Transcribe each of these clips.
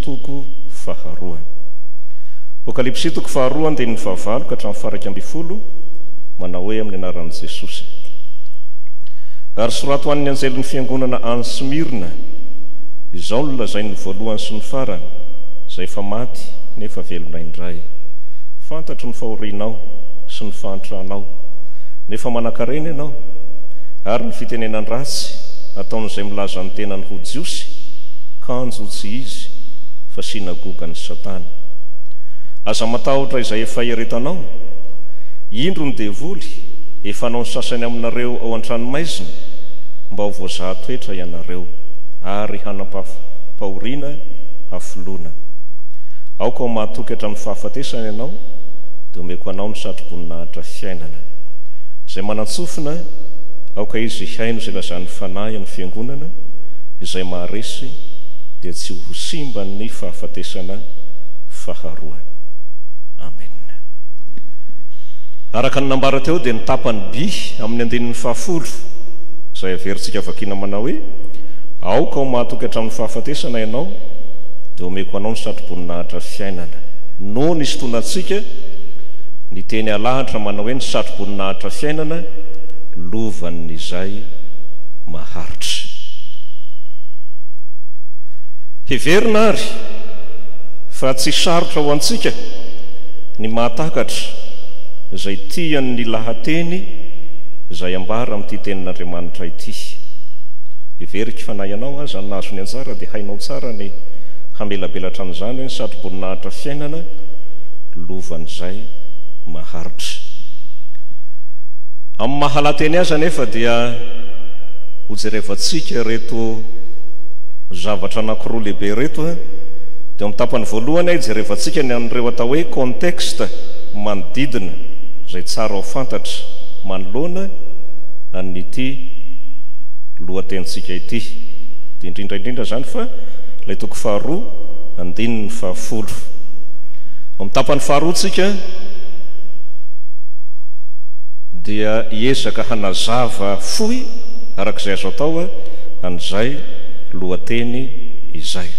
Toko faharoa. Apokalypsy toko faharoa andininy fahavalo ka hatramin'ny faharaika ambin'ny folo, manao hoe amin'ny anaran'i Jesosy. Ary soraty ho an'ny anjelin'ny fiangonana any Smyrna, Izao no lazain'ny voalohany sy ny farany, izay efa maty nefa velona indray, Fantatro ny fahorianao sy ny fahantranao, nefa manankarena ianao, ary ny fitenenan-dratsy ataon'izay milaza ny tenany ho Jiosy, kanjo Sarotsy izy fa synagogan'i Satana. Aza matahotra izay efa eretanao. Indro ny devoly efa hanao ny sasany aminareo ao an-tranomaizina mba ho voazaha toetra ianareo ary hanam-pahoriana hafoloana. Aoka ho mahatoky hatramin'ny fahafatesana ianao dia omeko anao ny satroboninahitra fiainana. Izay manan-tsofina, aoka izy hihaino izay lazan'ny Fanahy amin'ny Fiangonana, izay maharesy dia tsy ho simba ny fahafatesana faharoa. Amena. Araka ny nambara teo dia ny tapany by amin'ny andininy fahafolo izay averintsika vakiana manao hoe, Aoka ho mahatoky hatramin'ny fahafatesana ianao, dia omeko anao ny satroboninahitra fiainana. No nisintonantsika ny teny alahatra manao hoe ny satroboninahitra fiainana lovan'izay maharitra. Heverina àry fa tsy sarotra ho antsika ny mahatakatra izay tian'ny lahateny izay ambara amin'ity Tenin'Andriamanitra ity. Heveriko fa na ianao aza no nahazo ny anjara dia hainao tsara ny hamelabelatra an'izany hoe ny satroboninahitra fiainana lovan'izay maharitra. Amin'ny maha-lahateny azy anefa dia. Hojerevantsika ireto zavatra anankiroa lehibe ireto. Dia amin'ny tapany voalohany, hijerevantsika ny an'ireo atao hoe contexte manodidina izay tsara ho fantatra manoloana an'ity lohatenintsika ity. Dia indrindra indrindra izany fa ilay toko faharoa, andininy fahafolo. Ao amin'ny tapany faharoa tsika dia hiezaka hanazava fohy araka izay azo atao an'izay lohateny izay.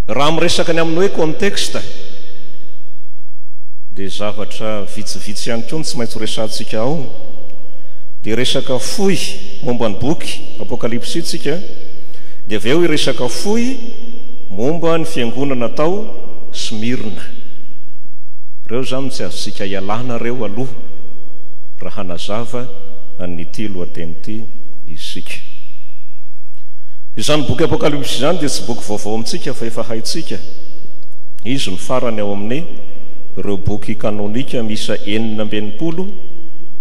Raha miresaka ny amin'ny hoe contexte dia zavatra vitsivitsy ihany koa no tsy maintsy horesahantsika ao, dia resaka fohy momba ny boky Apokalypsy tsika, dia avy eo hiresaka fohy momba ny fiangonana tao Smyrna. Ireo izany no tsy azontsika ialana ireo aloha raha Zava an'ity lohateny ity isika. Izany boky Apokalypsy izany dia tsy boky vaovao amintsika fa efa haintsika izy no farany ao amin'ny ireo boky kanônika miisa enina amby enimpolo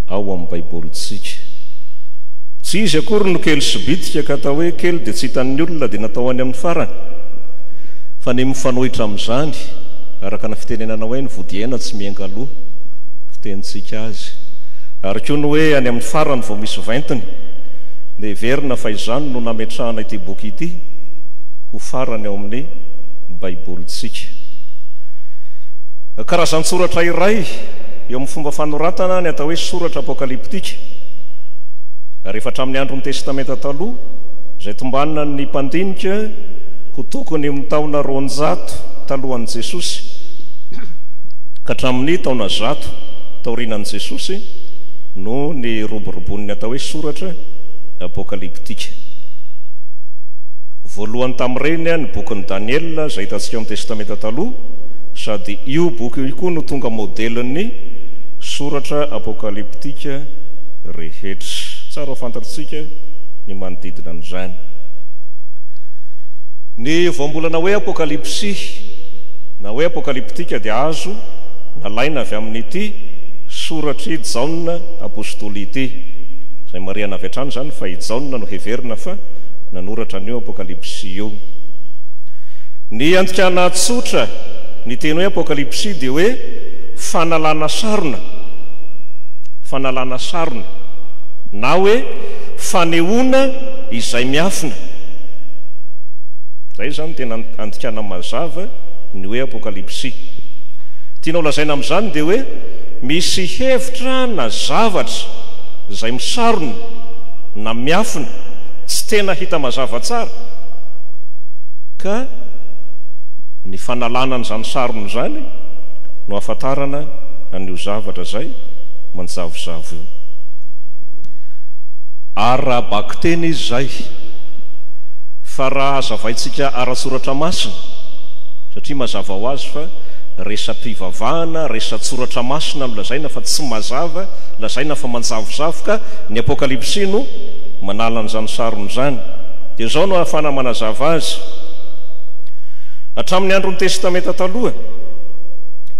ao amin'ny Baibolintsika. Tsy izy akory no kely sy bitika ka atao hoe kely dia tsy hitan'ny olona dia natao any amin'ny farany fa ny mifanohitra amin'izany araka ny fitenenana hoe ny vodihaina tsy mienga aloha fitenintsika azy. ary koa ny hoe any amin'ny farany vao misy ventiny, dia heverina fa izany no nametrahana ity boky ity ho farany ao amin'ny Baibolintsika. Karazan-tsoratra iray eo amin'ny fomba fanoratana ny atao hoe soratra apokalyptika, ary efa hatramin'ny andron'ny Testamenta Taloha, izay tombanina ny mpandinika ho tokony amin'ny taona roanjato talohan'i Jesosy ka hatramin'ny taona zato. Taorianan'i Jesosy no niroboroboan'ny atao hoe soratra apokalyptika. Voalohany tamin'ireny ny bokin'i Daniela izay hitantsika amin'ny Testamenta Taloha, sady io boky io koa no tonga modelin'ny soratra apokalyptika rehetra. Tsara ho fantatritsika ny manodidina an'izany. Ny voambolana hoe apokalypsy na hoe apokalyptika dia azo nalaina avy amin'ity soratr'i Jaona apostoly ity, izay marihana avy hatrany izany fa i Jaona no heverina fa nanoratra an'io Apokalypsy io. Ny andikana tsotra ny teny hoe Apokalypsy dia hoe fanalana sarona, fanalana sarona, na hoe fanehoana izay miafina. Izay izany tena andikana mazava ny hoe Apokalypsy. Tianao lazaina amin'izany dia hoe misy hevitra na zavatra izay misarona na miafina, tsy tena hita mazava tsara, ka ny fanalana an'izany sarona izany no ahafantarana an'io zavatra izay manjavozavo io. Ara-bakiteny izy izay, fa raha hazavaintsika ara-tsoratra masina, satria mazava ho azy fa Masina, resa-pivavahana, resa-tsoratra masina no lazaina fa tsy mazava, lazaina fa manjavozavo ka ny Apokalypsy no manala an'izany sarony izany. Dia izao no ahafahana manazava azy, Hatramin'ny andron'ny Testamenta Taloha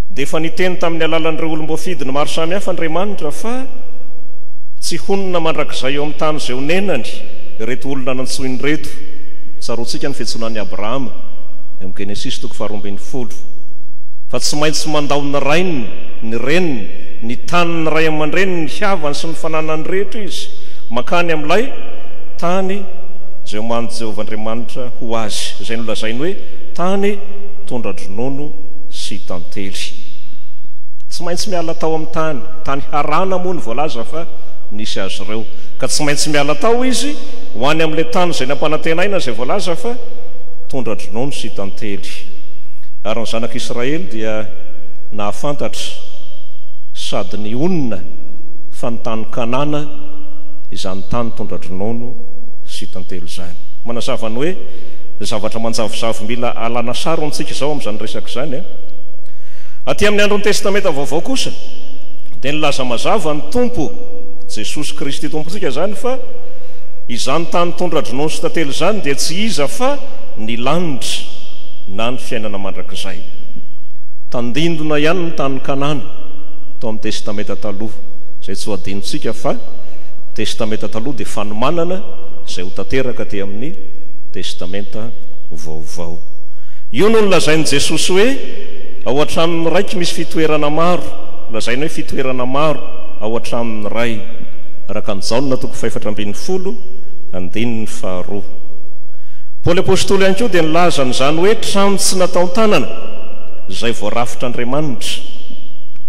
dia efa niteny tamin'ny alalan'ireo olom-boafidiny maro samihafa Andriamanitra fa tsy honina mandrakizay eo amin'ny tany izay onenany ireto olona nantsoiny ireto. Tsaroantsika ny fiantsoana an'i Abrahama eo amin'ny Genesisy toko faharoa ambin'ny folo. ny folo, fa tsy maintsy mandao ny rainy, ny reniny, ny tany ny ray aman-dreniny, ny havany sy ny fananany rehetra izy, mankany amin'ilay tany izay omanin'i Jehovah Andriamanitra ho azy, izay nolazainy hoe tany tondra-dronono sy tantely. Tsy maintsy miala tao amin'ny tany, tany Harana moa no voalaza fa nisy azy ireo, ka tsy maintsy miala tao izy ho any amin'ilay tany izay nampanantenaina, izay voalaza fa tondra-dronono sy tantely. Ejipta. Ary ny Zanak'i Israely dia nahafantatra sady nihonona fa ny tany Kanana, izany tany tondra-dronono sy tantely izany. Manazava ny hoe zavatra manjavozavo mila alana sary ho antsika izao amin'izany resaka izany. Aty amin'ny andron'ny Testamenta Vaovao kosa dia nilaza mazava ny Tompo, Jesosy Kristy Tompontsika izany, fa izany tany tondra-dronono sy tantely izany dia tsy iza fa ny lanitra. Faritra na ny fiainana mandrakizay. Tandindona ihany ny tany Kanana tao amin'ny Testamenta Taloha, izay tsy ho adinontsika fa Testamenta Taloha dia fanomanana izay ho tanteraka aty amin'ny Testamenta Vaovao. Io no nolazain'i Jesosy hoe, Ao an-tranon'ny Raiko misy fitoerana maro, lazaina hoe fitoerana maro ao an-tranon'ny Ray, araka an'i Jaona toko fahefatra ambin'ny folo, andininy faharoa. Paoly Apostoly ihany koa dia nilaza an'izany hoe trano tsy nataon-tanana, izay voarafitra Andriamanitra,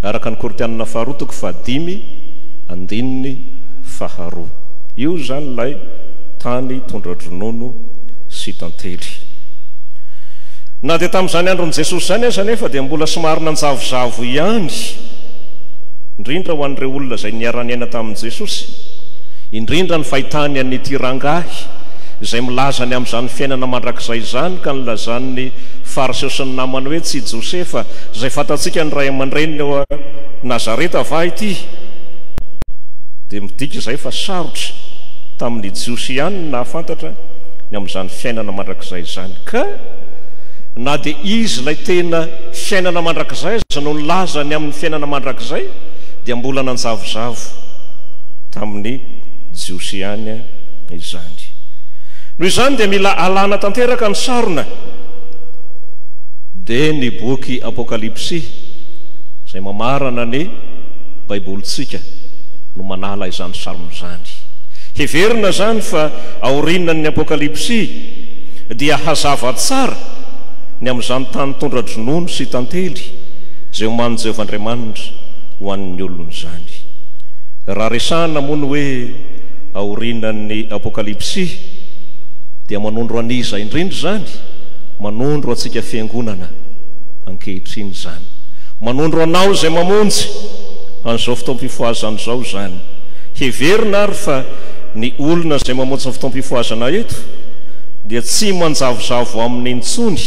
araka ny Korintianina faharoa toko fahadimy, andininy faharoa. Io izany ilay tany tondra-dronono sy tantely. Na dia tamin'izany andron'i Jesosy izany aza anefa dia mbola somary nanjavozavo ihany, indrindra ho an'ireo olona izay niara-niaina tamin'i Jesosy, indrindra ny fahitany an'ity rangahy izay milaza ny amin'izany fiainana mandrakizay izany ka nilazan'ny Fariseo sy ny namany hoe, Tsy i Josefa, izay fantatsika ny ray aman-dreniny ao Nazareta va ity? Dia midika izay fa sarotra tamin'ny Jiosy ihany ny nahafantatra ny amin'izany fiainana mandrakizay izany. Ka na dia izy ilay tena fiainana mandrakizay aza no nilaza ny amin'ny fiainana mandrakizay dia mbola nanjavozavo tamin'ny Jiosy ihany fitakiana izany. Noho izany dia mila alana tanteraka ny sarona. Dia ny boky Apokalypsy izay mamarana ny Baibolintsika no manala izany sarona izany. Heverina izany fa aorianan'ny Apokalypsy dia hazava tsara ny amin'izany tany tondra-dronono sy tantely izay omanin'i Jehovah Andriamanitra ho an'ny olony izany. Raha resahina moa ny hoe aorianan'ny Apokalypsy, dia manondro an'iza indrindra izany? Manondro antsika Fiangonana ankehitriny izany. Manondro anao izay mamonjy an'izao fotoam-pifohazana izao izany. Heverina àry fa ny olona izay mamonjy ny fotoam-pifohazana eto dia tsy manjavozavo aminy intsony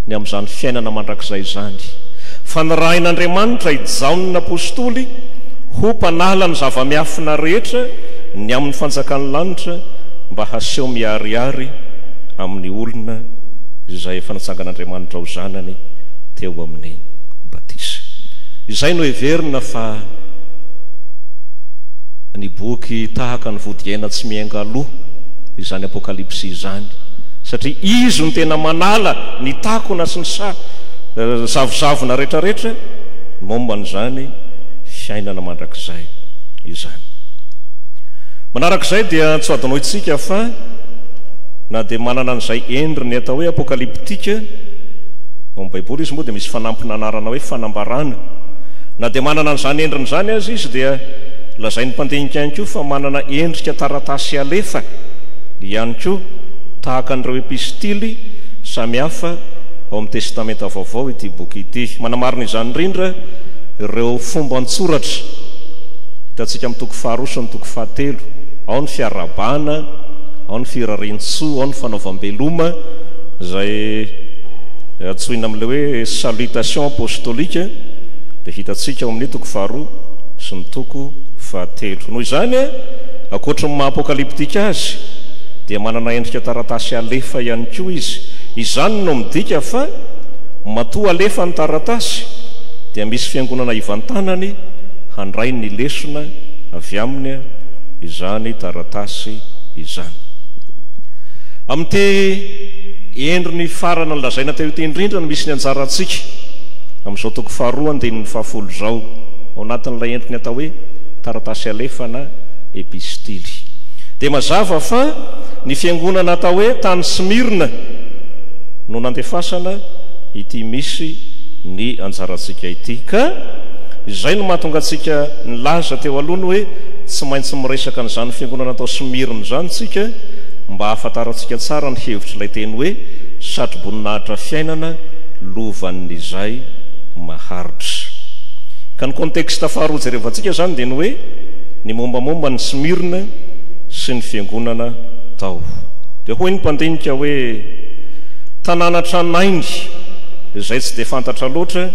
ny amin'izany fiainana mandrakizay izany, fa nirahin'Andriamanitra i Jaona Apostoly ho mpanala ny zava-miafina. Fanahy rehetra ny amin'ny fanjakan'ny lanitra mba haseho miharihary amin'ny olona izay efa natsangan'Andriamanitra ho zanany teo amin'ny batisa. Izay no heverina fa ny boky tahaka ny vodihaina tsy miainga aloha izany Apokalypsy izany, satria izy no tena manala ny takona sy ny zavozavona rehetra rehetra momba an'izany fiainana mandrakizay. izany. Manaraka izay dia tsy ho adinointsika fa na dia manana an'izay endriny atao hoe apokaliptika ao amin'ny Baiboly izy moa dia misy fanampin'anarana hoe fanambarana. Na dia manana an'izany endriny izany aza izy dia lazain'ny mpandinika ihany koa fa manana endrika taratasy alefa ihany koa tahaka an'ireo epistily samihafa ao amin'ny Testamenta Vaovao ity boky ity. Manamarina izany indrindra ireo fomban-tsoratra Kristo. Hitantsika amin'ny toko faharoa sy ny toko fahatelo, ao ny fiarahabana, ao ny firarian-tsoa, ao ny fanaovam-beloma, izay antsoina amin'ilay hoe salutation apostolique, dia hitantsika ao amin'ny toko faharoa sy ny toko fahatelo. Noho izany, ankoatry ny maha-apokalyptika azy, dia manana endrika taratasy alefa ihany koa izy. Izany no midika fa matoa alefa ny taratasy, dia misy fiangonana ivan-. tanany handray ny lesona avy aminy izany taratasy izany. Amin'ity endriny farany nolazaina teo ity indrindra no misy ny anjarantsika amin'izao toko faharoa andininy fahafolo izao, ao anatin'ilay endriny atao hoe taratasy alefana, epistily. Dia mazava fa ny fiangonana atao hoe tany Smyrna no nandefasana ity misy ny anjarantsika ity. DK, Izay no mahatonga antsika nilaza teo aloha ny hoe tsy maintsy miresaka an'izany fiangonana tao Smyrne izany isika mba hahafantarantsika tsara ny hevitr'ilay teny hoe satroboninahitra fiainana lovan'izay maharitra. Ka ny contexte faharoa hojerevantsika izany dia ny hoe ny mombamomba an'i Smyrne sy ny fiangonana tao. Dia hoy ny mpandinika hoe tanàna tranainy. izay tsy dia fantatra loatra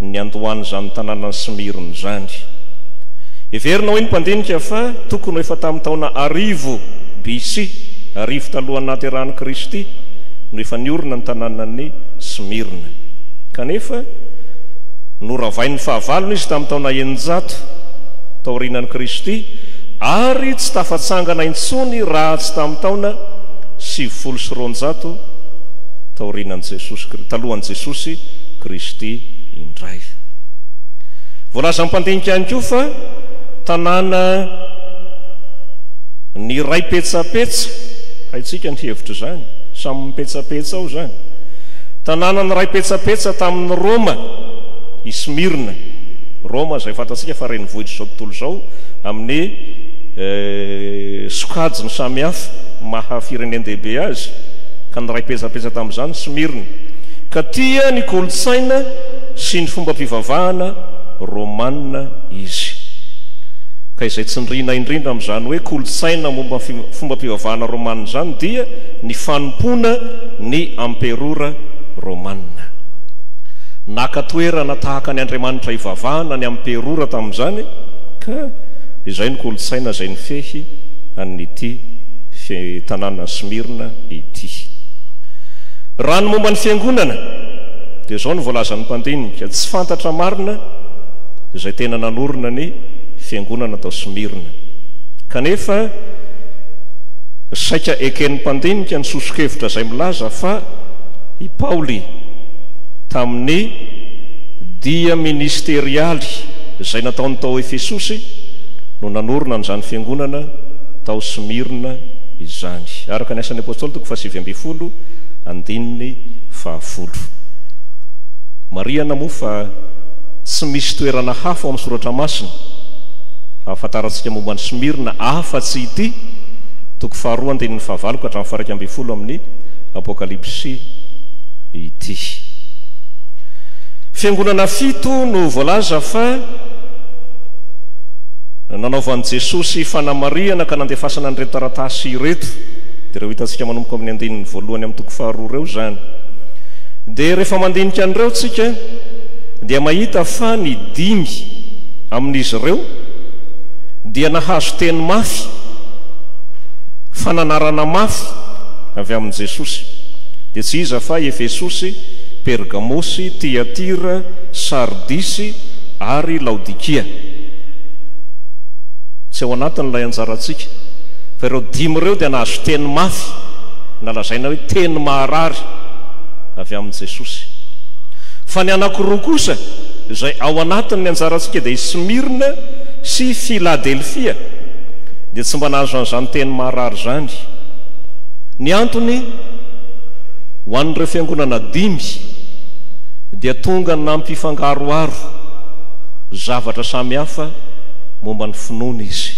ny niandohan'izany tanànan'i Smyrne izany. Heverina hoy ny mpandinika fa tokony ho efa tamin'ny taona arivo BC, arivo talohan'ny nahaterahan'i Kristy, no efa niorina ny tanànan'i Smyrne. Kanefa, noravain'ny fahavalony izy tamin'ny taona eninjato taorianan'i Kristy, ary tsy tafatsangana intsony raha tsy tamin'ny taona sivifolo sy roanjato taorianan'i Jesosy. Jesosy talohan'i Jesosy Kristy indray. Voalazan'ny mpandinika ihany koa fa tanàna niray petsapetsa, haintsika ny hevitra izany, samy mipetsapetsa ao izany. Tanàna niray petsapetsa tamin'ny Roma i Smyrna. Roma izay fantatsika fa renivohitra izao tontolo izao amin'ny eh, sokajiny samihafa maha firenen-dehibe azy ka niray petsapetsa tamin'ny Izany tsy merina. Ka tia ny kolontsaina sy ny fombam-pivavahana Romana izy. Ka izay tsindriana indrindra amin'izany hoe kolontsaina momba ny fombam-pivavahana Romana izany dia ny fanompoana ny Amperora Romana. Naka toerana tahaka ny andriamanitra ivavahana ny Amperora tamin'izany, ka izay no kolontsaina izay nifehy an'ity tanàna Smyrna ity. Raha ny momba ny Fiangonana dia izao no voalazan'ny mpandinika, tsy fantatra marina izay tena nanorina ny Fiangonana tao Smyrna. Kanefa saika eken'ny mpandinika ny soso-kevitra izay milaza fa i Paoly tamin'ny dia ministerialy izay nataony tao Efesosy no nanorina an'izany Fiangonana tao Smyrna izany, araka ny Asan'ny Apostoly, Fahasivy ambin'ny folo, andininy fahafolo. Marihana moa fa tsy misy toerana hafa ao amin'ny Soratra Masina ahafantarantsika momba an'i Smyrna afa-tsy ity toko faharoa andininy fahavalo ka hatramin'ny faharaika ambin'ny folo amin'ny Apokalypsy ity. Fiangonana fito no voalaza fa nanaovan'i Jesosy fanamarihana ka nandefasana an'ireto taratasy ireto. dia ireo hitantsika manomboka amin'ny andininy voalohany amin'ny toko faharoa ireo izany. Dia rehefa mandinika an'ireo tsika dia mahita fa ny dimy amin'izy ireo dia nahazo teny mafy, fananarana mafy avy amin'i Jesosy. Dia tsy iza fa i Efesosy, Pergamosy, Tiatira, Sardisy ary Laodikia. Tsy ao anatin'ilay anjarantsika. Fa ireo dimy ireo dia nahazo teny mafy, na lazaina hoe teny maharary, avy amin'i Jesosy. Fa ny anankiroa kosa, izay ao anatin'ny anjarantsika, dia i Smyrne sy i Philadelphia, dia tsy mba nahazo an'izany teny maharary izany. Ny antony, ho an'ireo fiangonana dimy, dia tonga nampifangaroharo zavatra samihafa momba ny finoany izy.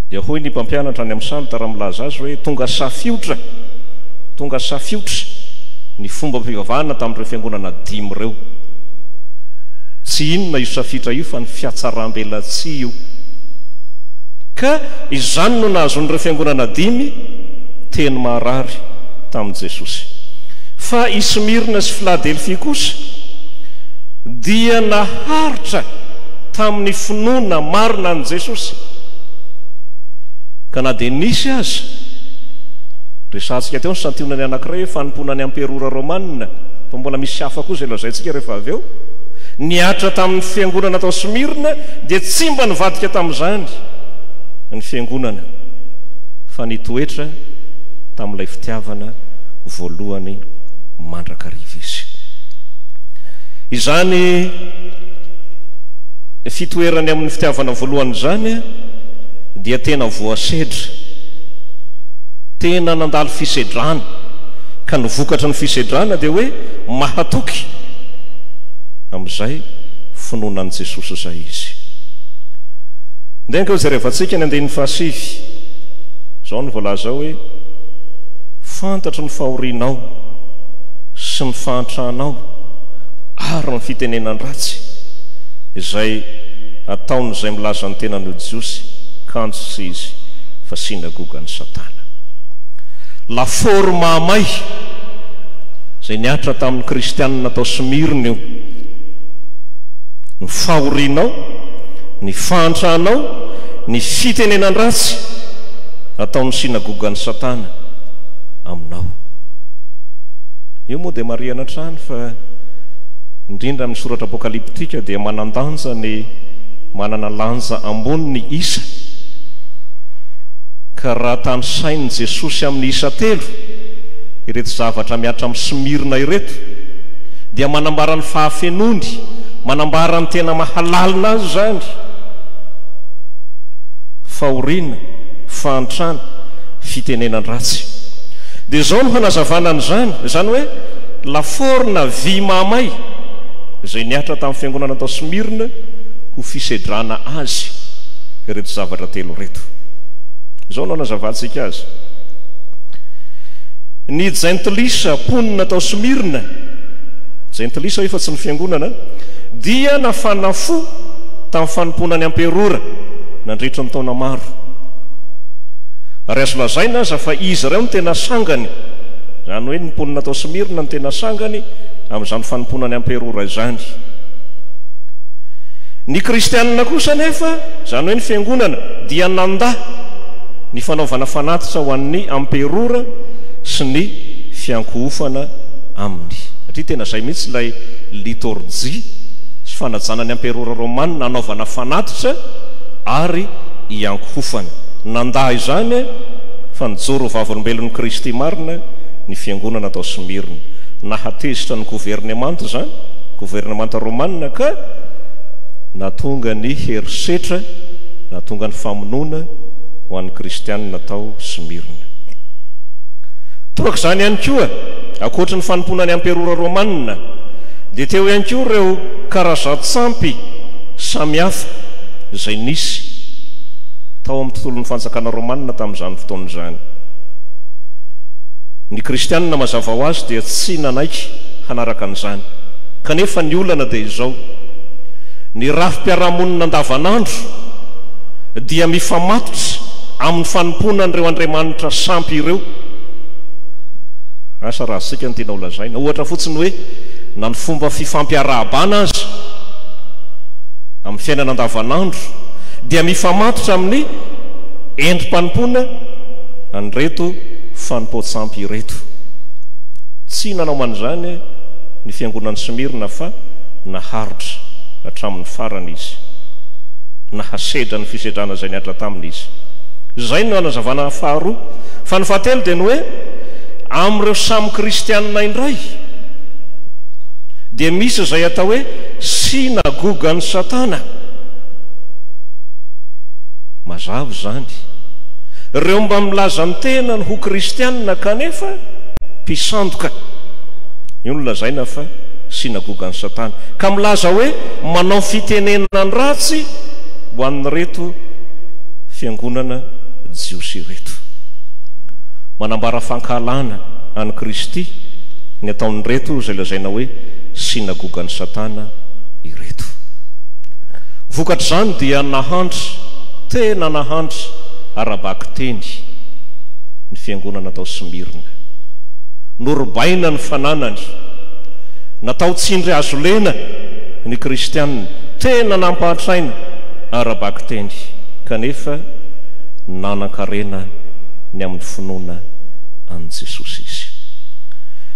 Dia hoy ny mpampianatra any amin'ny salotra raha milaza azy hoe, Tonga safiotra, tonga safiotra ny fombam-pivavahana tamin'ireo fiangonana dimy ireo. Tsy inona io safiotra io fa ny fiatsaram-belatsihy io. Ka izany no nahazoan'ireo fiangonana dimy teny maharary tamin'i Jesosy. Fa i Smyrna sy Filadelfia kosa dia naharitra tamin'ny finoana marina an'i Jesosy. Ka na dia nisy aza, resahantsika teo ny santionany anankiray hoe fanompoana ny amperora romanina, fa mbola misy hafa koa izay lazaintsika rehefa avy eo, nihatra tamin'ny fiangonana tao Smyrna, dia tsy mba nivadika tamin'izany ny fiangonana, fa nitoetra tamin'ilay fitiavana voalohany mandrakariva izy. Izany. Fitoerany amin'ny fitiavana voalohany izany dia tena voasedra, tena nandalo fisedrana, ka ny vokatry ny fisedrana dia hoe mahatoky, amin'izay finoana an'i Jesosy izay izy. Ndeha ange hojerevantsika ny andininy fahasivy, izao no voalaza ao hoe, Fantatro ny fahorianao sy ny fahantranao ary ny fitenenan-dratsy, izay ataon'izay milaza ny tenany ho Jiosy, kanjo tsy izy fa synagogan'i Satana. Lafaoro mahamay izay nihatra tamin'ny Kristianina tao Smyrne io. Ny fahorianao, ny fahantranao, ny fitenenan-dratsy ataon'ny synagogan'i Satana aminao. Io moa dia marihana hatrany fa indrindra amin'ny soratra apokalyptika dia manan-danja ny manana lanja ambony ny isa, ka raha tanisain'i Jesosy amin'ny isa telo ireto zavatra mihatra amin'i Smyrna ireto, dia manambara ny fahafenoany, manambara ny tena mahalalina azy izany, fahoriana, fahantrana, fitenenan-dratsy. Dia izao no hanazavana an'izany, izany hoe lafaoro na vy mahamay. izay nihatra tamin'ny fiangonana tao Smyrne ho fisedrana azy ireto zavatra telo ireto. Izao no anazavantsika azy. Ny jentilisa mponina tao Smyrne, jentilisa efa tsy ny fiangonana, dia nafana fo tamin'ny fanompoana ny amperora nandritra ny taona maro. Ary azo lazaina aza fa izy ireo no tena sangany, izany hoe ny mponina tao Smyrne no tena sangany, amin'izany fanompoana ny Amperora izany. Ny Kristianina kosa anefa, izany hoe ny Fiangonana, dia nandà ny fanaovana fanatitra ho an'ny Amperora sy ny fiankohofana aminy. Satria tena izay mihitsy ilay litorjia sy fanajana ny Amperora Romanina, anaovana fanatitra ary iankohofana. Nandà izany fa nijoro ho vavolombelon'i Kristy marina ny Fiangonana tao Smyrne. Nahatezitra ny governemanta izany, governemanta romanina, ka nahatonga ny herisetra, nahatonga ny famonoana ho an'ny kristianina tao Smyrne. Toraka izany ihany koa, ankoatry ny fanompoana ny amperora romanina, dia teo ihany koa ireo karazan-tsampy samihafa izay nisy tao amin'ny tontolon'ny fanjakana romanina tamin'izany fotoana izany. Ny kristianina mazava ho azy dia tsy nanaiky hanaraka an'izany. Kanefa ny olana dia izao, ny rafi-piarahamonina andavanandro dia mifamatotra amin'ny fanompoana an'ireo andriamanitra sampy ireo. Asa raha zika ny tianao lazaina. Ohatra fotsiny hoe na ny fomba fifampiarahabana aza amin'ny fiainana andavanandro dia mifamatotra amin'ny endri-panompoana an'ireto fanompoan-tsampy ireto. Tsy nanao man'izany ny fiangonan'i Smyrna fa naharitra hatramin'ny farany izy. Nahasedra ny fisedrana izay niadra taminy izy. Izay no hanazavana faharoa. Fa ny fahatelo dia ny hoe amin'ireo samy kristiana indray dia misy izay atao hoe synagogan'i Satana. Mazava izany. Ireo mba milaza ny tenany ho kristianina kanefa mpisandoka, io no lazaina fa synagogan'i Satana, ka milaza hoe manao fitenenana ratsy ho an'ireto fiangonana jiosy ireto. Manambara fankahalana an'i Kristy ny ataon'ireto izay lazaina hoe synagogan'i Satana ireto. Vokatr'izany dia nahandry, tena nahandry, ara-bakiteny ny fiangonana tao Smyrna. Norobaina ny fananany. Natao tsindry hazo lena ny Kristianina tena nampahantraina ara-bakiteny, kanefa nanan-karena ny amin'ny finoana an'i Jesosy izy.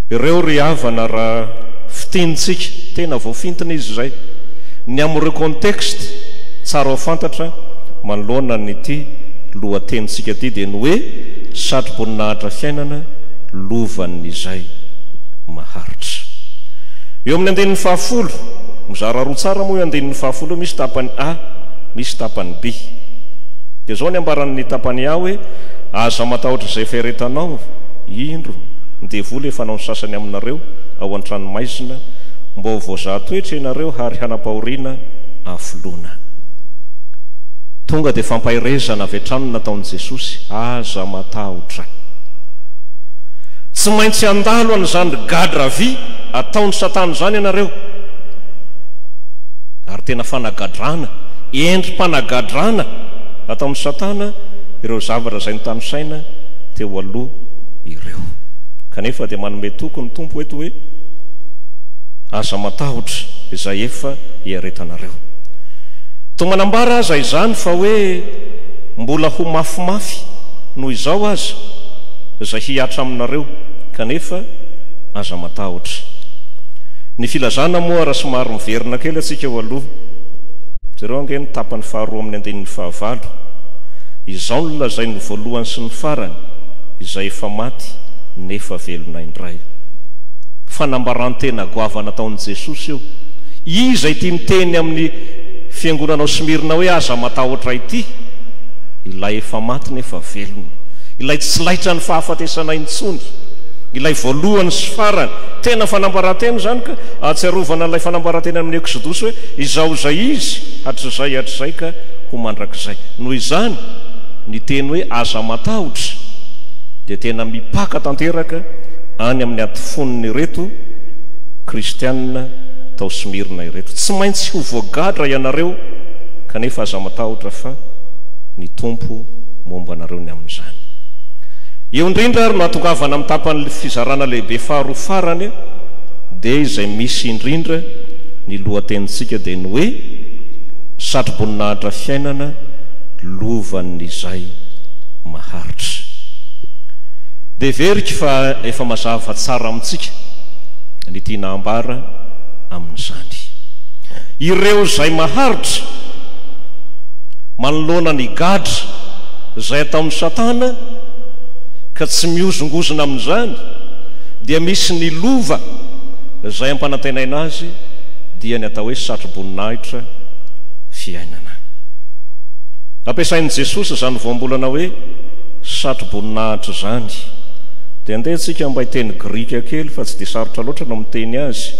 Ireo ry havana, raha fintinintsika, tena voafintina izy izay, ny amin'ireo contexte tsara ho fantatra, Manoloana an'ity lohatenintsika ity dia ny hoe Satroboninahitra Fiainana, Lovan'izay Maharitra. Eo amin'ny andininy fahafolo, mizara roa tsara moa io andininy fahafolo io, misy tapany A, misy tapany B. Dia izao ny ambaran'ny tapany A hoe, Aza matahotra izay fiaretanao, indro, ny devoly efa hanao ny sasany aminareo ao an-tranomaizina, mba ho voazaha toetra ianareo hary hanam-pahoriana afoloana. Tonga dia fampaherezana avy hatrany no nataon'i Jesosy, Aza matahotra. Tsy maintsy handalo an'izany gadra vy ataon'i Satana izany ianareo. Ary tena fanagadrana, endri-panagadrana ataon'i Satana ireo zavatra izay notanisaina teo aloha ireo. Kanefa dia manome toky ny Tompo eto hoe, Aza matahotra izay efa iaretanareo. Toa manambara aza izany fa hoe mbola ho mafimafy noho izao aza izay hihatra aminareo kanefa aza matahotra. Ny filazana moa raha somary miverina kely atsika eo aloha, jereo ange ny tapany faharoa amin'ny andininy fahavalo, izao no lazain'ny voalohany sy ny farany izay efa maty nefa velona indray. Fanambarantena goavana ataon'i Jesosy io. Iza ity miteny amin'ny fiangonana ao Smyrna hoe, Aza matahotra ity, ilay efa maty nefa velona, ilay tsy laitra ny fahafatesana intsony, ilay voalohany sy farany. Tena fanambarantena izany ka! Ahatsiarovana an'ilay fanambarantena amin'ny Eksodosy hoe, Izaho izay izy, hatrizay, hatrizay ka ho mandrakizay. Noho izany, ny teny hoe aza matahotra dia tena mipaka tanteraka any amin'ny atifon'ireto Kristianina tao Smyrna ireto. Tsy maintsy ho voagadra ianareo, kanefa aza matahotra fa ny Tompo momba anareo ny amin'izany. Eo indrindra ary no ahatongavana amin'ny tapan'ny fizarana lehibe faharoa farany dia izay misy indrindra ny lohatenintsika dia ny hoe Satroboninahitra Fiainana lovan'izay maharitra. Dia veriko fa efa mazava tsara amintsika ny tiana ambara amin'izany. amin'izany. Ireo izay maharitra manoloana ny gadra izay ataon'i Satana ka tsy mihozongozona amin'izany, dia misy ny lova izay ampanantenaina azy, dia ny atao hoe satro-boninahitra fiainana. Ampiasain'i Jesosy izany voambolana hoe satro-boninahitra izany. Dia andeha isika mba hiteny grika kely fa tsy dia sarotra loatra no miteny azy.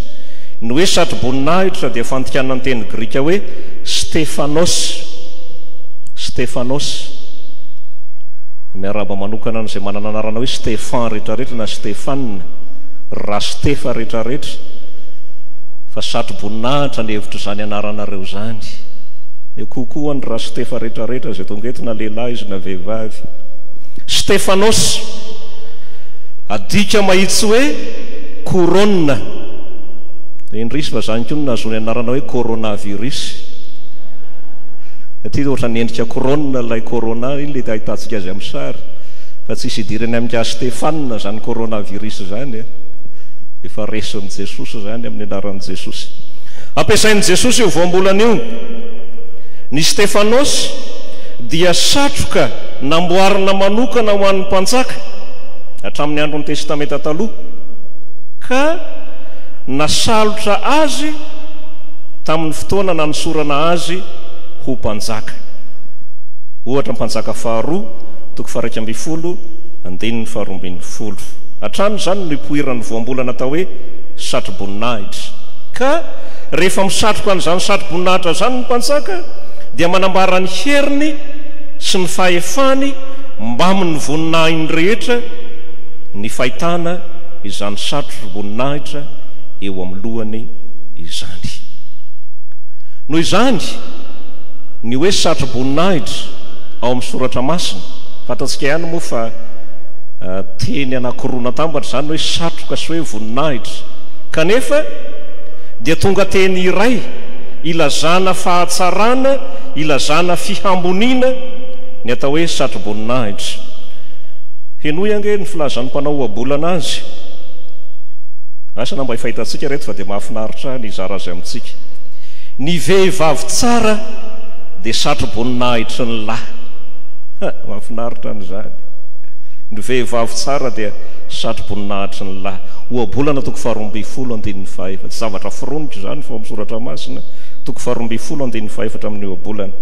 Ny hoe satroboninahitra dia fandikana ny teny grika hoe Stephanos, Stephanos. Miarahaba manokana an'izay manana anarana hoe Stefan rehetrarehetra na Stephane, ry Rastefa rehetrarehetra, fa satroboninahitra ny hevitr'izany anaranareo izany. Eo kokoa ho an'i Rastefa rehetrarehetra izay tonga eto na lehilahy izy na vehivavy. Stephanos, adika mahitsy hoe Corona, dia indrisy fa izany koa no nahazoany anarana hoe coronavirus, satria ohatran'ny endrika corona ilay corona, iny ilay ahitantsika azy amin'ny sary, fa tsisy idirany amin-ka Stefana izany coronavirus izany e, efa resin'i Jesosy izany amin'ny anaran'i Jesosy. Ampiasain'i Jesosy io voambolana io. Ny Stefanosy dia satroka namboarina manokana ho an'ny mpanjaka, hatramin'ny andron'ny Testamenta Taloha. ka nasalotra azy tamin'ny fotoana nanosorana azy ho mpanjaka. Ohatra Mpanjaka faharoa, toko faha-iraika ambin'ny folo, andininy faharoa ambin'ny folo. Hatrany izany no nipoiran'ny voambolana atao hoe satroboninahitra, ka rehefa misatroka an'izany satroboninahitra izany ny mpanjaka dia manambara ny heriny sy ny fahefany mbamin'ny voninahiny rehetra, Ny fahitana izany satro-boninahitra eo amin'ny lohany izany. Noho izany, ny hoe satro-boninahitra ao amin'ny Soratra Masina, fantatsika ihany moa fa teny anankiroa natambatra izany hoe satroka sy hoe voninahitra, kanefa dia tonga teny iray ilazana fahatsarana, ilazana fihamboniana ny atao hoe satro-boninahitra. Henoy ange ny filazan'ny mpanao ohabolana azy. Asa na mba efa hitantsika reto fa dia mahafinaritra ny hizara azy amintsika. Ny vehivavy tsara dia satroboninahitry ny lahy. Ha, mahafinaritra an'izany. Ny vehivavy tsara dia satroboninahitry ny lahy. Ohabolana toko faharoa ambin'ny folo andininy fahefatra. Tsy zavatra foroniko izany fa ao amin'ny soratra masina, toko faharoa ambin'ny folo andininy fahefatra amin'ny ohabolana.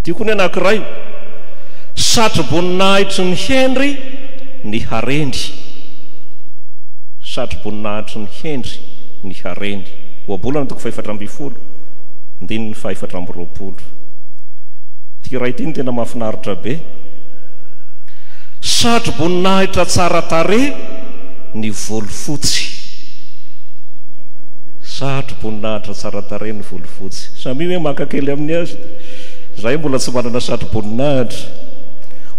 Tiako ny anankiray. Satroboninahitry ny hendry ny hareny Satroboninahitry ny hendry ny hareny. Ohabolana toko fahefatra ambin'ny folo, andininy fahefatra amby roapolo. Ity iray ity no tena mahafinaritra be. Satroboninahitra tsara tarehy ny volofotsy Satroboninahitra tsara tarehy ny volofotsy. Samia hoe maka kely amin'ny azy. Izahay mbola tsy manana satroboninahitra. Voninahitra.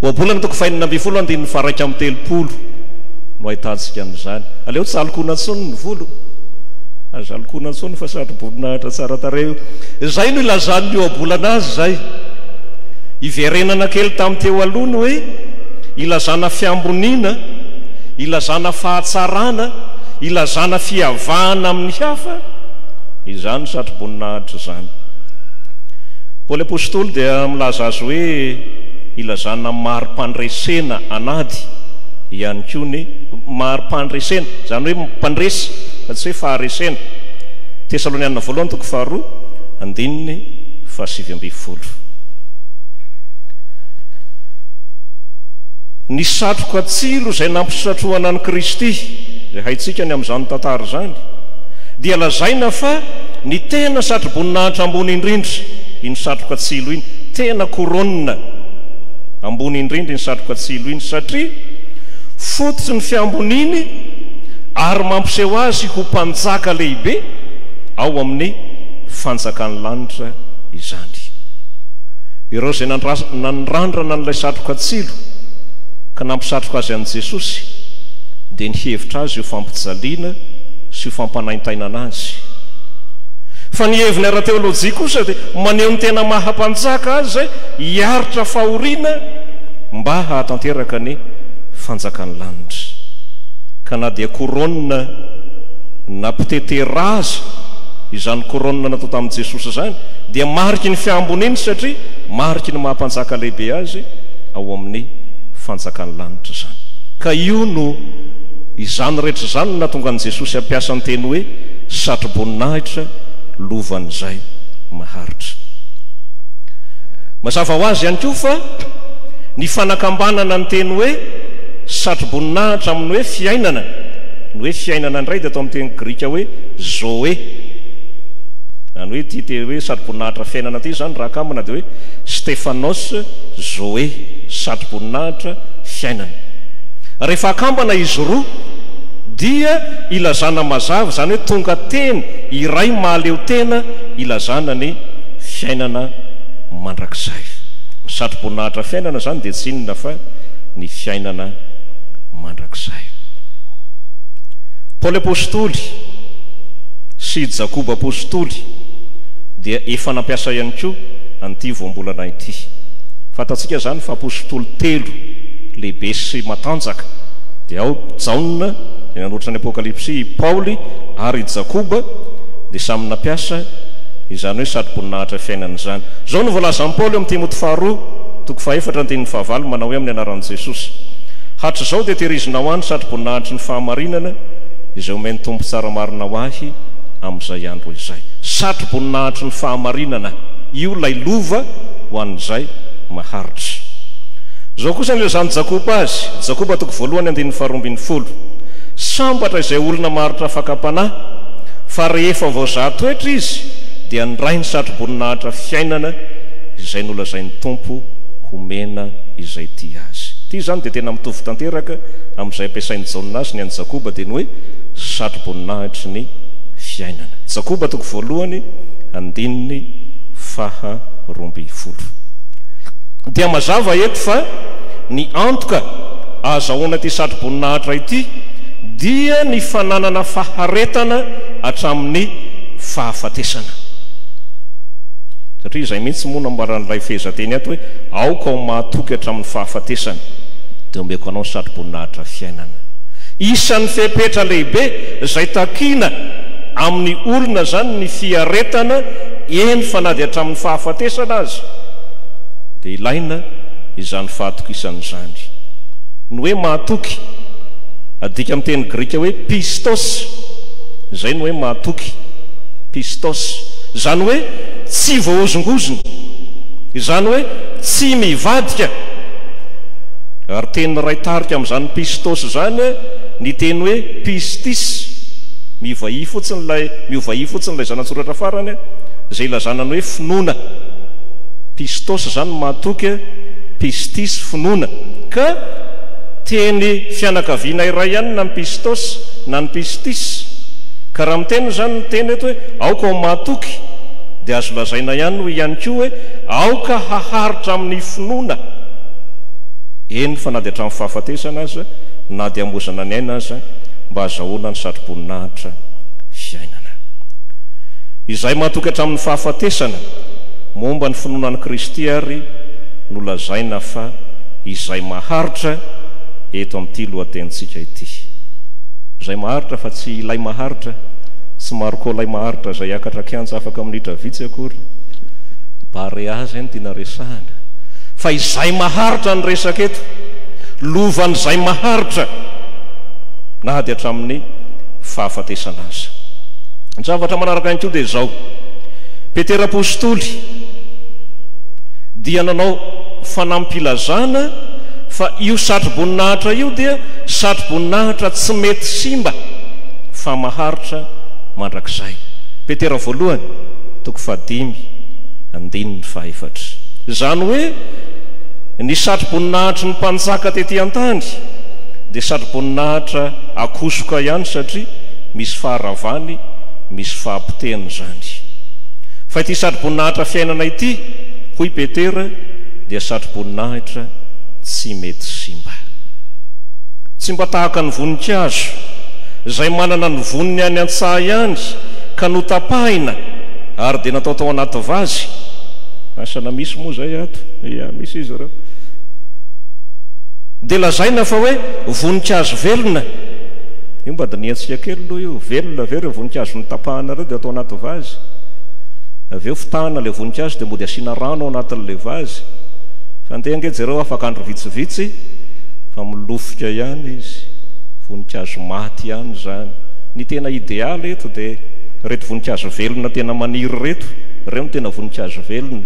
Ohabolana toko fahenina ambin'ny folo andininy faharaika amby telopolo no ahitantsika an'izany. Aleo tsy alokona intsony ny volo. Aza alokona intsony fa satroboninahitra tsara tarehy io. Izay no ilazan'ny ohabolana azy izay. Iverenana kely tamin'ny teo aloha ny hoe ilazana fiamboniana, ilazana fahatsarana, ilazana fiavahana amin'ny hafa izany satroboninahitra izany. Paoly Apostoly dia milaza azy hoe ilazana mari-pandresena an'ady ihany koa ny mari-pandresena, izany hoe mpandresy fa tsy hoe faharesena. Tesalonianina Voalohany toko faharoa andininy fahasivy ambin'ny folo. Ny satroka tsilo izay nampisatrohana an'i Kristy, izay haintsika ny amin'izany tantara izany, dia lazaina fa Ny tena satroboninahitra ambony indrindra iny satroka tsilo iny, tena couronne ambony indrindra iny satroka tsilo iny satria fototsy ny fiamboniany ary mampiseho azy ho mpanjaka lehibe ao amin'ny fanjakan'ny lanitra izany. Ireo izay nanrandrana an'ilay satroka tsilo ka nampisatroka azy an'i Jesosy dia nihevitra azy ho fampijaliana sy ho fampanaintainana azy Fa ny heviny ara-teolojia kosa dia maneho ny tena maha mpanjaka azy izay hiaritra fahoriana mba hahatanteraka ny fanjakan'ny lanitra. Ka na dia koronina na ptetera aza izany koronina natao tamin'i Jesosy izany dia mariky ny fihamboniany satria mariky ny maha mpanjaka lehibe azy ao amin'ny fanjakan'ny lanitra izany. Ka io no izany rehetra izany no nahatonga an'i Jesosy hampiasa ny teny hoe satroboninahitra lovan'izay maharitra. Mazava ho azy ihany koa fa ny fanakambanana ny teny hoe satroboninahitra amin'ny hoe fiainana, ny hoe fiainana indray dia atao amin'ny teny grika hoe zoe, izany hoe ity teny hoe satroboninahitra fiainana ity izany raha akambana dia hoe stephanos zoe, satroboninahitra fiainana. Rehefa akambana izy roa dia ilazana mazava, izany hoe tonga teny iray mahaleo tena ilazana ny fiainana mandrakizay. Ny satroboninahitra fiainana izany dia tsy inona fa ny fiainana mandrakizay. Paoly Apostoly sy i Jakoba Apostoly dia efa nampiasa ihany koa an'ity voambolana ity. Fantatsika izany fa Apostoly telo lehibe sy matanjaka dia ao Jaona, Ny nanoratra ny Apokalypsy i Paoly ary i Jakoba dia samy nampiasa izany hoe satroboninahitra fiainana izany. Izao no voalazan'i Paoly ao amin'ny Timoty Faharoa, toko fahefatra andininy fahavalo, manao hoe amin'ny anaran'i Jesosy, Hatrizao dia tehirizinao ahy ny satroboninahitry ny fahamarinana izay omen'ny Tompo tsara marina ho ahy amin'izay andro izay. Satroboninahitry ny fahamarinana, io ilay lova ho an'izay maharitra. Izao kosa no ilazan'i Jakoba azy, Jakoba toko voalohany andininy faharoa ambin'ny folo, Folo. Sambatra izay olona maharitra fakam-panahy, fa rehefa voazaha toetra izy, dia niray ny satroboninahitra fiainana izay nolazain'ny Tompo homena izay tia Azy. Ity izany dia tena mitovy tanteraka amin'izay ampiasain'i Jaona azy ny an'i Jakoba, dia ny hoe satroboninahitry ny fiainana. Jakoba toko voalohany, andininy faha roa ambin'ny folo. Dia mazava eto fa ny antoka ahazahoana ity satroboninahitra ity dia ny fananana faharetana hatramin'ny fahafatesana. Satria izay mihitsy moa no nambaran'ilay fehezanteny ato hoe, Aoka ho mahatoky hatramin'ny fahafatesana, dia omeko anao ny satroboninahitra fiainana. Isan'ny fepetra lehibe izay takiana amin'ny olona izany ny fiaretana, eny fa na dia hatramin'ny fahafatesana aza dia ilaina izany fahatokisana izany. Ny hoe mahatoky, adika amin'ny teny grika hoe pistos, izay no hoe mahatoky, pistos. Izany hoe tsy voahozongozona, izany hoe tsy mivadika. Ary teny iray tarika amin'izany pistos izany ny teny hoe pistis, mivahia fotsiny ilay, miovahia fotsiny ilay zana-tsoratra farany, izay ilazana ny hoe finoana. Pistos izany ny mahatoky. Pistisy finoana. Ka teny fianakaviana iray ihany na ny Pistosy na ny Pistisy. Ka raha miteny izany ny teny eto hoe aoka ho mahatoky dia azo lazaina ihany ho ihany koa hoe aoka haharitra amin'ny finoana, eny fa na dia hatramin'ny fahafatesana aza, na dia hamoizana ny aina aza, mba hazahoana ny satroboninahitra fiainana. Izay mahatoky hatramin'ny fahafatesana momba ny finoana an'i Kristy ary, no lazaina fa izay maharitra eto amin'ity lohatenintsika ity. Izay maharitra fa tsy ilay maharitra, tsy Marco ilay maharitra izay hiakatra kianja afaka minitra vitsy akory, Barea izay no tiana resahana, fa izay maharitra no resaka eto, lovan'izay maharitra na dia hatramin'ny fahafatesana aza. Ny zavatra manaraka ihany koa dia izao, Petera Apostoly, dia nanao fanampilazana fa io satroboninahitra io dia satroboninahitra tsy mety simba fa maharitra mandrakizay. Petera voalohany toko fahadimy andininy fahefatra. Izany hoe ny satroboninahitry ny mpanjaka tety an-tany dia satroboninahitra akosoka ihany satria misy faharavany, misy fahapotehana izany. Fa ity satroboninahitra fiainana ity, hoy Petera, dia satroboninahitra tsy mety simba. Tsy mba tahaka ny voninkazo, izay manana ny voniny any an-tsaha ihany, ka notapahina ary dia natao tao anaty vazy. Asa na misy moa izay ato? Ia, misy izy ireo. Dia lazaina fa hoe voninkazo velona. Io mba dinihantsika kely aloha io. Velona ve ireo voninkazo notapahana ireo dia atao anaty vazy? avy eo fitahana ilay voninkazo dia mody asiana rano ao anatin'ilay vazy fa ndeha ange jereo afaka andro vitsivitsy fa milofika ihany izy voninkazo maty ihany izany ny tena idealy eto dia reto voninkazo velona tena maniry reto ireo no tena voninkazo velona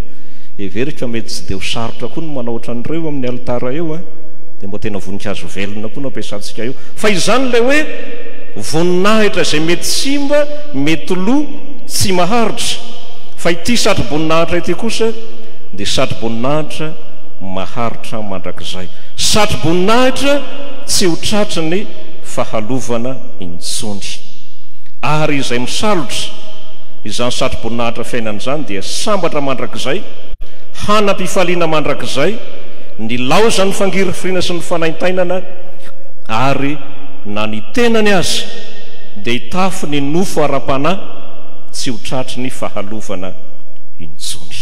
heveriko fa mety tsy dia ho sarotra koa ny manao ohatran'ireo amin'ny alitara eo a dia mba tena voninkazo velona koa no ampiasantsika eo fa izany ilay hoe voninahitra izay mety simba mety lo tsy maharitra fa ity satroboninahitra ity kosa dia satroboninahitra maharitra mandrakizay, satroboninahitra tsy ho tratry ny fahalovana intsony. Ary izay misalotra izany satroboninahitra fiainana izany dia sambatra mandrakizay, hanam-pifaliana mandrakizay, nilaozan'ny fangirifiriana sy ny fanaintainana, ary na ny tenany aza, Dia hitafy ny nofo ara-panahy tsy ho tratry ny fahalovana intsony.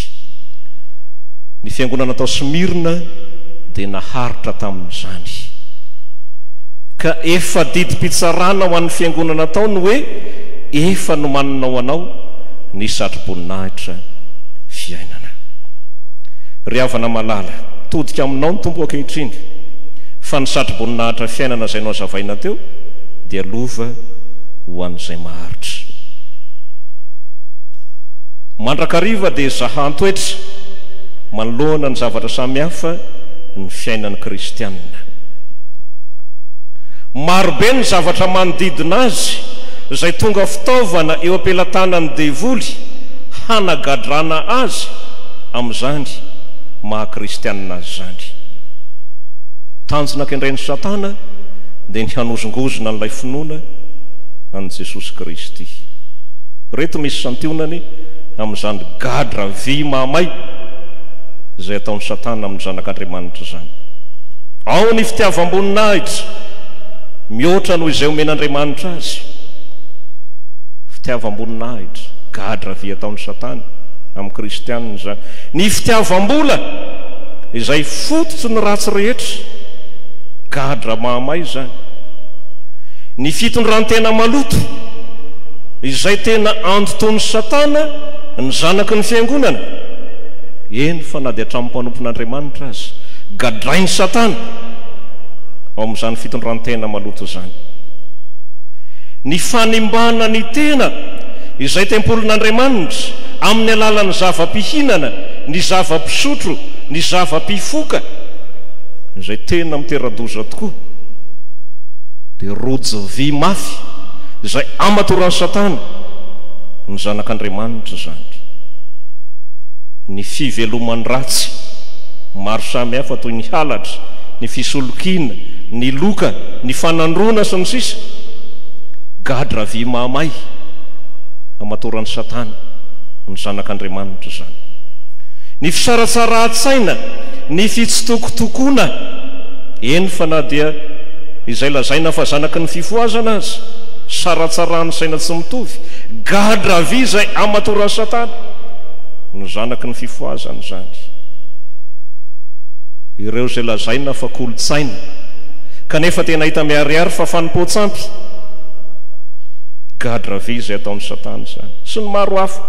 Ny fiangonana tao Smyrna dia naharitra tamin'izany. Ka efa didim-pitsarana ho an'ny fiangonana tao ny hoe efa nomanina ho anao ny satroboninahitra fiainana. Ry havana malala, todika aminao ny Tompo ankehitriny, fa ny satroboninahitra fiainana izay nohazavaina teo, dia lova ho an'izay maharitra. Mandrakariva dia zahan-toetra manoloana ny zavatra samy hafa ny fiainan'ny kristianina. Maro be ny zavatra manodidina azy izay tonga fitaovana eo am-pelatanan'ny devoly hanagadrana azy amin'izany maha kristianina azy izany. Tanjona kendren'i Satana dia ny hanozongozona an'ilay finoana an'i Jesosy Kristy. Ireto misy santionany amin'izany gadra vy mahamay izay ataon'i Satana amin'ny zanak'Andriamanitra izany, Ao ny fitiavam-boninahitra mihoatra noho izay omen'Andriamanitra azy. Fitiavam-boninahitra, gadra vy ataon'i Satana amin'ny kristiana izany. Ny fitiavam-bola, izay fototry ny ratsy rehetra. Gadra mahamay izany. Ny fitondran-tena maloto, izay tena andotoan'i Satana ny zanaky ny Fiangonana, eny fa na dia hatramin'ny mpanompon'Andriamanitra aza, gadrain'i Satana ao amin'izany fitondran-tena maloto izany. Ny fanimbana ny tena, izay tempolin'Andriamanitra, amin'ny alalan'ny zava-pihinana, ny zava-pisotro, ny zava-pifoka, Izay tena mitera-doza tokoa dia rojo vy mafy izay amatoran'i Satana ny zanak'Andriamanitra izany. Ny fiveloman-dratsy maro samihafa toy ny halatra, ny fisolokiana, ny loka, ny fanandroana sy ny sisa, gadra vy mahamay amatoran'i Satana ny zanak'Andriamanitra izany. Ny fisaratsarahan-tsaina. Ny fitsitokotokoana, eny fa na dia izay lazaina fa zanaky ny fifohazana aza, saratsaran'ny saina tsy mitovy, gadra vy izay amatoran'i Satana no zanaky ny fifohazana izany. Ireo izay lazaina fa kolontsaina kanefa tena hita miharihary fa fanompoan-tsampy, gadra vy izay ataon'i Satana izany. Sy ny maro hafa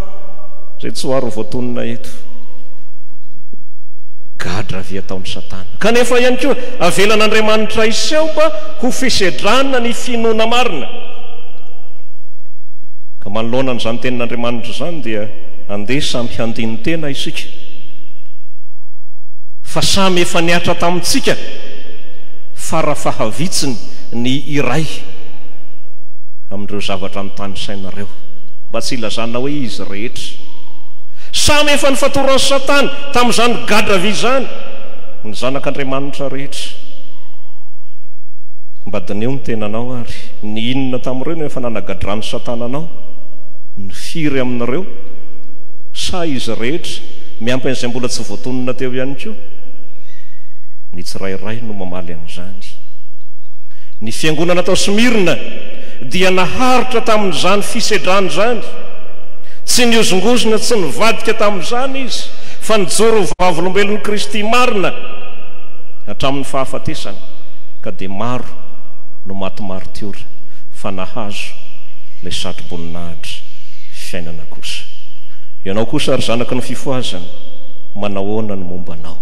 izay tsy ho aro voatonona eto. gadra avy ataon'i Satana. Kanefa ihany koa, avelan'Andriamanitra hiseho mba ho fisedrana ny finoana marina. Ka manoloana an'izany Tenin'Andriamanitra izany dia andeha samy handini-tena isika fa samy efa nihatra tamintsika fara fahavitsiny ny iray amin'ireo zavatra notanisaina ireo, mba tsy hilazana hoe izy rehetra. Samy efa nifatoran'i Satana tamin'izany gadra vy izany ny zanak'Andriamanitra rehetra. Mba dineho ny tenanao ary, ny inona tamin'ireo no efa nanagadran'i Satana anao? Ny firy amin'ireo? Sa izy rehetra, miampy an'izay mbola tsy voatonona teo ihany koa? Ny tsirairay no mamaly an'izany. Ny fiangonana tao Smyrna dia naharitra tamin'izany fisedrana izany. Tsy nihozongozona, tsy nivadika tamin'izany izy, fa nijoro ho vavolombelon'i Kristy marina hatramin'ny fahafatesany, ka dia maro no maty maritiora, fa nahazo ilay satroboninahitra fiainana kosa. Ianao kosa, ry zanaky ny fifohazana, manahoana ny momba anao?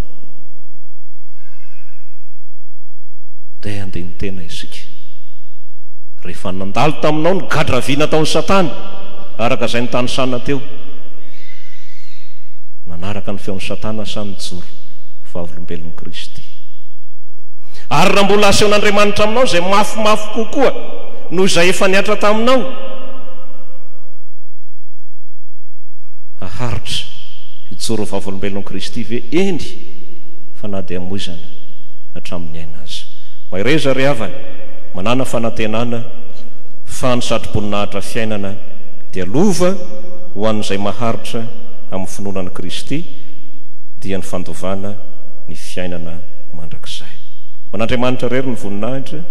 Dia handeha ny tena isika. Rehefa nandalo taminao ny gadra vy nataon'i Satana, Araka izay nitanisana teo, nanaraka ny feon'i Satana sa nijoro ho vavolombelon'i Kristy? Ary raha mbola asehon'Andriamanitra aminao izay mafimafy kokoa noho izay efa nihatra taminao, haharitra hijoro ho vavolombelon'i Kristy ve? Eny, fa na dia hamoizana hatramin'ny aina aza. Mahereza ry havana, manàna fanantenana fa ny satroboninahitra fiainana. fiainana dia lova ho an'izay maharitra amin'ny finoana an'i Kristy dia ny fandovana ny fiainana mandrakizay. Ho an'Andriamanitra irery ny voninahitra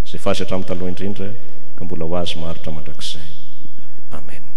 izay f'Azy hatramin'ny taloha indrindra ka mbola ho Azy maharitra mandrakizay. Amena.